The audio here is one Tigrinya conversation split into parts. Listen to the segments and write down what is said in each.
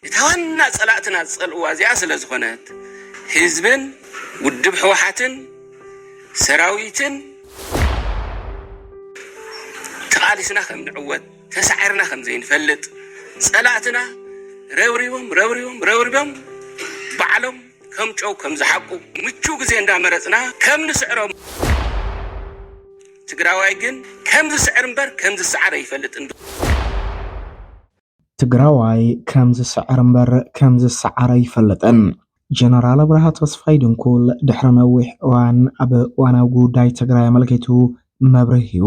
እታ ዋና ፀላእትና ዝፀልእዋ እዚኣ ስለዝኾነት ህዝብን ውድብ ህወሓትን ሰራዊትን ተቓሊስና ከምንዕወት ተሳዒርና ከምዘይንፈልጥ ፀላእትና ረብሪቦም ረብሪቦም ረብሪቦም ባዕሎም ከም ጨው ከምዝሓቁ ምቹው ግዜ እንዳመረፅና ከምንስዕሮም ትግራዋይ ግን ከምዝስዕር እምበር ከምዝሰዓር ኣይፈልጥን። ትግራዋይ ከም ዝስዕር እምበር ከም ዝሰዓር ኣይፈልጥን። ጀነራል ኣብርሃ ተስፋይ ድንኩል ድሕሪ ነዊሕ እዋን ኣብ እዋናዊ ጉዳይ ትግራይ ኣመልኪቱ መብርሂ ሂቡ።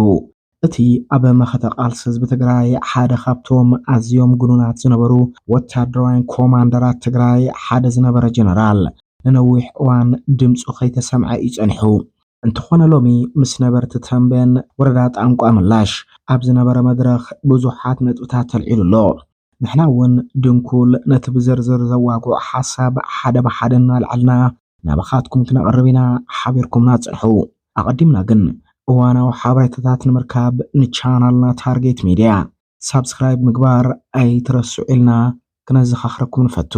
እቲ ኣብ መኸተ ቃልሲ ህዝቢ ትግራይ ሓደ ካብቶም ኣዝዮም ግኑናት ዝነበሩ ወታደራውያን ኮማንደራት ትግራይ ሓደ ዝነበረ ጀነራል ንነዊሕ እዋን ድምፁ ከይተሰምዐ እዩ ፀኒሑ። እንተኾነ ሎሚ ምስ ነበርቲ ተምቤን ወረዳ ጣንቋ ምላሽ ኣብ ዝነበረ መድረኽ ብዙሓት ነጥብታት ተልዒሉ ኣሎ። ንሕና እውን ድንኩል ነቲ ብዝርዝር ዘዋግዑ ሓሳብ ሓደ ብሓደ እናልዐልና ናባኻትኩም ክነቕርብ ኢና፣ ሓቢርኩምና ፅንሑ። ኣቐዲምና ግን እዋናዊ ሓበሬታታት ንምርካብ ንቻናልና ታርጌት ሚድያ። ሳብስክራይብ ምግባር ኣይትረስዑ ኢልና ክነዘኻኽረኩም ንፈቱ።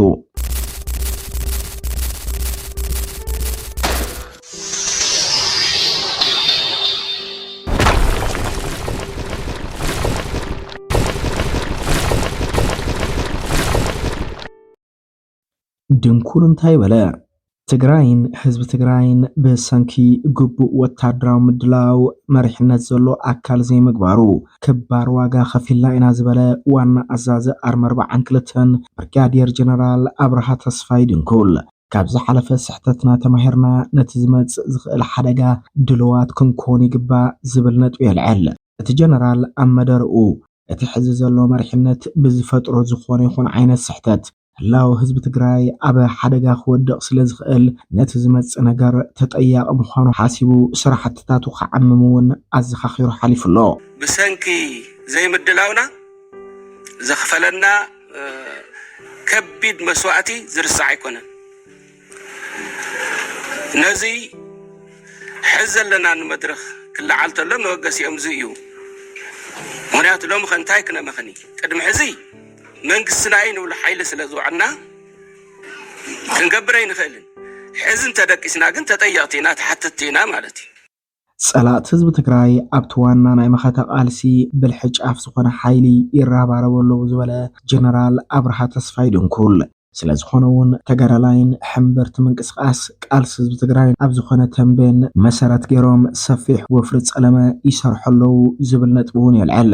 ድንኩር እንታይ በለ? ትግራይን ህዝቢ ትግራይን ብሰንኪ ግቡእ ወታደራዊ ምድላው መሪሕነት ዘሎ ኣካል ዘይምግባሩ ክባር ዋጋ ከፊልና ኢና ዝበለ ዋና ኣዛዚ ኣርሚ ኣርብዓን ክልተን ብርጋዴር ጀነራል ኣብርሃ ተስፋይ ድንኩል ካብ ዝሓለፈ ስሕተትና ተማሂርና ነቲ ዝመፅእ ዝኽእል ሓደጋ ድሉዋት ክንኮን ይግባእ ዝብል ነጥቢ የልዕል። እቲ ጀነራል ኣብ መደርኡ እቲ ሕዚ ዘሎ መሪሕነት ብዝፈጥሮ ዝኾነ ይኹን ዓይነት ስሕተት ህላው ህዝቢ ትግራይ ኣብ ሓደጋ ክወድቕ ስለ ዝኽእል ነቲ ዝመጽእ ነገር ተጠያቒ ምዃኑ ሓሲቡ ስራሕትታቱ ክዓምም እውን ኣዘኻኺሩ ሓሊፉ ኣሎ። ብሰንኪ ዘይምድላውና ዘኽፈለና ከቢድ መስዋእቲ ዝርሳዕ ኣይኮነን። ነዚ ሕዚ ዘለናሉ መድረኽ ክለዓል ተሎ መበገሲኦም እዚ እዩ። ምክንያቱ ሎሚ ከ እንታይ ክነመኽኒ ቅድሚ ሕዚ መንግስትና እዩ ንብሎ ሓይሊ ስለ ዝውዕልና ክንገብር ኣይንኽእልን። ሕዚ እንተደቂስና ግን ተጠየቕቲ ኢና፣ ተሓተትቲ ኢና ማለት እዩ። ፀላእቲ ህዝቢ ትግራይ ኣብቲ ዋና ናይ መኸተ ቃልሲ ብልሒ ጫፍ ዝኾነ ሓይሊ ይረባረቡ ኣለዉ ዝበለ ጀነራል ኣብርሃ ተስፋይ ድንኩል ስለዝኾነ እውን ተጋዳላይን ሕምብርቲ ምንቅስቃስ ቃልሲ ህዝቢ ትግራይን ኣብ ዝኾነ ተምቤን መሰረት ገይሮም ሰፊሕ ወፍሪ ፀለመ ይሰርሑ ኣለዉ ዝብል ነጥቢ እውን የልዕል።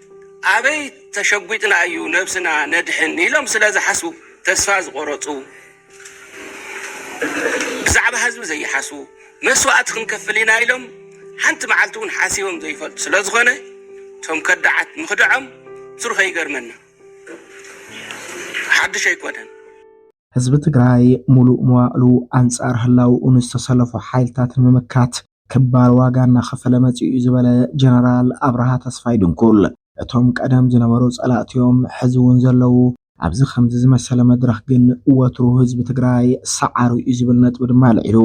ኣበይ ተሸጒጥና እዩ ነብስና ነድሕን ኢሎም ስለ ዝሓስቡ ተስፋ ዝቖረጹ፣ ብዛዕባ ህዝቢ ዘይሓስቡ፣ መስዋእቲ ክንከፍል ኢና ኢሎም ሓንቲ መዓልቲ እውን ሓሲቦም ዘይፈልጡ ስለ ዝኾነ እቶም ከዳዓት ምኽድዖም ብትሩኸ ይገርመና። ሓዱሽ ኣይኮነን። ህዝቢ ትግራይ ሙሉእ መዋእሉ ኣንፃር ህላውኡ ንዝተሰለፉ ሓይልታት ንምምካት ክባር ዋጋ እናኸፈለ መፂኡ እዩ ዝበለ ጀነራል ኣብርሃ ተስፋይ ድንኩል፣ እቶም ቀደም ዝነበሩ ፀላእቲ እዮም ሕዚ እውን ዘለዉ፣ ኣብዚ ከምዚ ዝመሰለ መድረኽ ግን ወትሩ ህዝቢ ትግራይ ሰዓሩ እዩ ዝብል ነጥቢ ድማ ኣልዒሉ።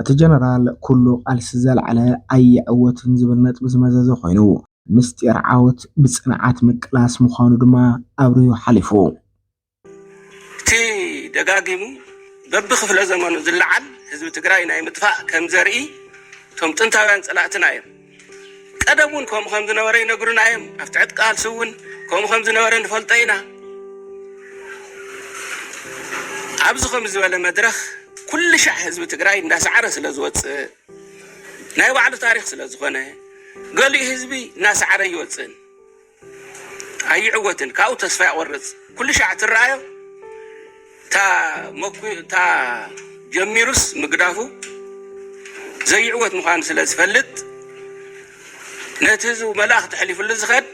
እቲ ጀነራል ኩሉ ቃልሲ ዘልዓለ ኣይዕወትን ዝብል ነጥቢ ዝመዘዘ ኮይኑ፣ ምስጢር ዓወት ብፅንዓት ምቅላስ ምዃኑ ድማ ኣብሪሁ ሓሊፉ። እቲ ደጋጊሙ በብክፍለ ዘመኑ ዝለዓል ህዝቢ ትግራይ ናይ ምጥፋእ ከም ዘርኢ እቶም ጥንታውያን ፀላእትና እዮም። ቀደም እውን ከምኡ ከም ዝነበረ ይነግሩና እዮም። ኣብ ትሕቲ ቃልሲ እውን ከምኡ ከም ዝነበረ ንፈልጦ ኢና። ኣብዚ ከም ዝበለ መድረኽ ኩሉ ሻዕ ህዝቢ ትግራይ እንዳሰዓረ ስለ ዝወፅእ ናይ ባዕሉ ታሪክ ስለ ዝኾነ ገሊኡ ህዝቢ እናሰዓረ ይወፅእን ኣይዕወትን ካብኡ ተስፋ ይቆርጽ ኩልሻዕ ትረኣዮ እታ ጀሚሩስ ምግዳፉ ዘይዕወት ምዃኑ ስለ ዝፈልጥ ነቲ ህዝቡ መልእኽ ተሕሊፍሉ ዝኸድ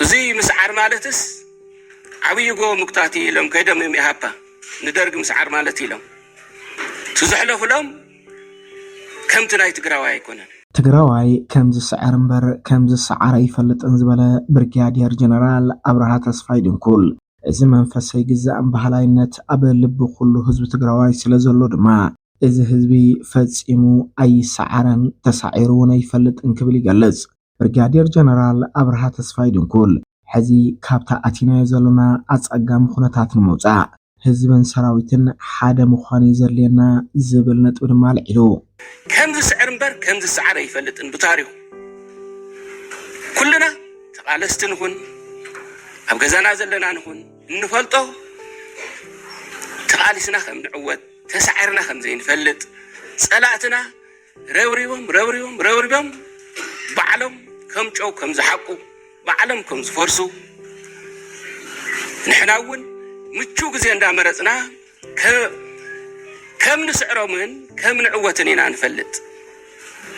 እዚ ምስዓር ማለትስ ዓብዪ ጎ ምጉታት ኢሎም ከይዶም እዮም ኢሃፓ ንደርጊ ምስዓር ማለት ኢሎም እቲ ዘሕለፉሎም ከምቲ ናይ ትግራዋይ ኣይኮነን። ትግራዋይ ከም ዝስዕር እምበር ከም ዝሰዓር ኣይፈልጥን ዝበለ ብርጋዴር ጀነራል ኣብርሃ ተስፋይ ድንኩል እዚ መንፈስ ኣይግዛእን በሃላይነት ኣብ ልቢ ኩሉ ህዝቢ ትግራዋይ ስለ ዘሎ ድማ እዚ ህዝቢ ፈፂሙ ኣይሰዓረን ተሳዒሩ እውን ኣይፈልጥን ክብል ይገልፅ። ብርጋዴር ጀነራል ኣብርሃ ተስፋይ ድንኩል ሕዚ ካብታ ኣቲናዮ ዘለና ኣጸጋሚ ኩነታት ንምውጻእ ህዝብን ሰራዊትን ሓደ ምዃን እዩ ዘድልየና ዝብል ነጥቢ ድማ ኣልዒሉ። ከም ዝስዕር እምበር ከም ዝሰዓር ኣይፈልጥን ብታሪኹ ኩልና ተቓለስቲ ንኹን ኣብ ገዛና ዘለና ንኹን እንፈልጦ ተቓሊስና ከም ንዕወት ተሳዒርና ከም ዘይንፈልጥ ጸላእትና ረብሪቦም ረብሪቦም ረብሪቦም ባዕሎም ከም ጨው ከም ዝሓቁ ባዕሎም ከም ዝፈርሱ ንሕና እውን ምቹው ግዜ እንዳመረፅና ከም ንስዕሮምን ከም ንዕወትን ኢና ንፈልጥ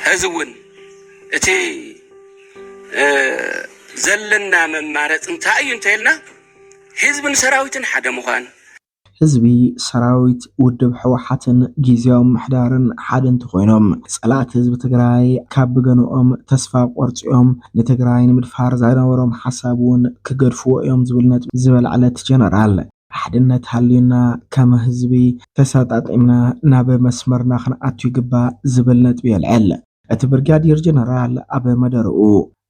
ሕዚ እውን እቲ ዘለና መማረፂ እንታይ እዩ እንተይልና ህዝብን ሰራዊትን ሓደ ምዃን ህዝቢ፣ ሰራዊት፣ ውድብ ህወሓትን ጊዚያዊ ምምሕዳርን ሓደ እንተኾይኖም ፀላእቲ ህዝቢ ትግራይ ካብ ብገንኦም ተስፋ ቆርፂኦም ንትግራይ ንምድፋር ዝነበሮም ሓሳብ እውን ክገድፍዎ እዮም ዝብል ነጥቢ ዝበልዐለ እቲ ጀነራል፣ ሓድነት ሃልዩና ከም ህዝቢ ተሰጣጢምና ናብ መስመርና ክንኣቱ ይግባእ ዝብል ነጥቢ የልዕል እቲ ብርጋዴር ጀነራል ኣብ መደርኡ።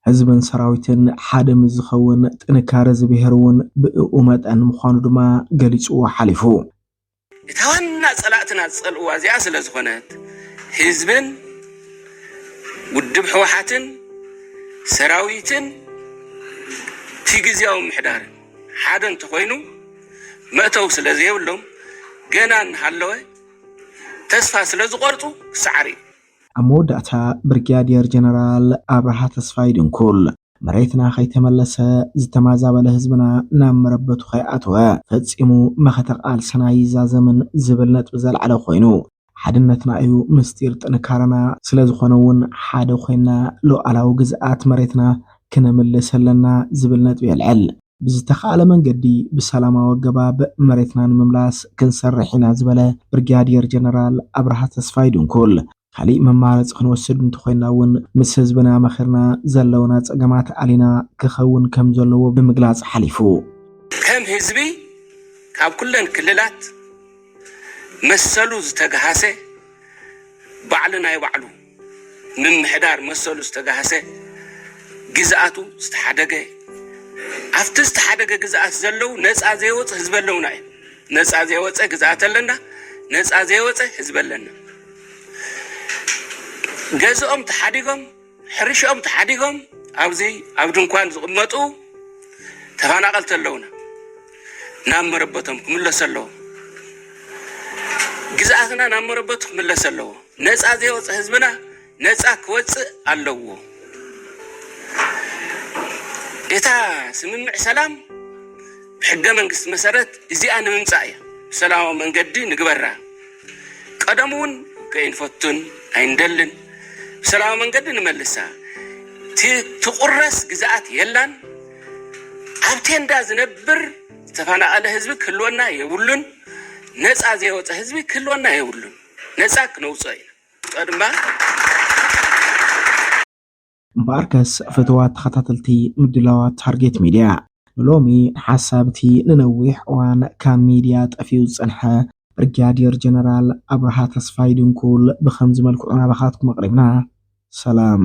ህዝብን ሰራዊትን ሓደ ምስ ዝኸውን ጥንካረ እዚ ብሄር እውን ብእኡ መጠን ምዃኑ ድማ ገሊፅዎ ሓሊፉ። እታ ዋና ፀላእትና ዝፀልእዋ እዚኣ ስለዝኾነት ህዝብን ውድብ ህወሓትን ሰራዊትን እቲ ግዝያዊ ምምሕዳርን ሓደ እንተኾይኑ መእተዊ ስለዘይብሎም ገና እናሃለወ ተስፋ ስለዝቖርፁ ክሰዓር እዩ። ኣብ መወዳእታ ብርግያዴር ጀነራል ኣብርሃ ተስፋይ ድንኩል መሬትና ከይተመለሰ፣ ዝተማዛበለ ህዝብና ናብ መረበቱ ከይኣተወ ፈጺሙ መኸተ ቃልስና ኣይዛዘምን ዝብል ነጥቢ ዘልዓለ ኮይኑ፣ ሓድነትና እዩ ምስጢር ጥንካረና፣ ስለዝኾነ እውን ሓደ ኮይንና ሉኣላዊ ግዝኣት መሬትና ክነምልስ ኣለና ዝብል ነጥቢ የልዕል። ብዝተኽኣለ መንገዲ ብሰላማዊ ኣገባብ መሬትና ንምምላስ ክንሰርሕ ኢና ዝበለ ብርጋዴር ጀነራል ኣብርሃ ተስፋይ ድንኩል፣ ካሊእ መማረፂ ክንወስድ እንተኾይንና እውን ምስ ህዝብና መኺርና ዘለውና ፀገማት ኣሊና ክኸውን ከምዘለዎ ብምግላፅ ሓሊፉ። ከም ህዝቢ ካብ ኩለን ክልላት መሰሉ ዝተግሃሰ ባዕሉ ናይ ባዕሉ ምምሕዳር መሰሉ ዝተጋህሰ፣ ግዝኣቱ ዝተሓደገ፣ ኣብቲ ዝተሓደገ ግዝኣት ዘለው ነፃ ዘይወፅ ህዝቢ ኣለውና እዩ። ነፃ ዘይወፀ ግዝኣት ኣለና፣ ነፃ ዘይወፀ ህዝቢ ኣለና። ገዝኦም ተሓዲጎም፣ ሕርሽኦም ተሓዲጎም ኣብዚ ኣብ ድንኳን ዝቕመጡ ተፈናቐልቲ ኣለውና። ናብ መረበቶም ክምለሱ ኣለዎም። ግዝኣትና ናብ መረበቱ ክምለስ ኣለዎ። ነፃ ዘይወፀ ህዝብና ነፃ ክወፅእ ኣለዎ እታ ስምምዕ ሰላም ብሕገ መንግስቲ መሰረት እዚኣ ንምምፃእ እያ ብሰላማዊ መንገዲ ንግበራ ቀደም እውን ከይንፈቱን ኣይንደልን ብሰላማዊ መንገዲ ንመልሳ ትቁረስ ግዛኣት የላን ኣብ ቴንዳ ዝነብር ዝተፈናቐለ ህዝቢ ክህልወና የብሉን ነፃ ዘይወፀ ህዝቢ ክህልወና የብሉን ነፃ ክነውፅኦ ኢና ቀድማ እምበኣርከስ ፍትዋት ተኸታተልቲ ምድላዋት ታርጌት ሚድያ ንሎሚ ሓሳብ እቲ ንነዊሕ እዋን ካብ ሚድያ ጠፊኡ ዝፀንሐ ብርጋዴር ጀነራል ኣብርሃ ተስፋይ ድንኩል ብኸምዚ መልክዑ ናባኻትኩም ኣቕሪብና። ሰላም።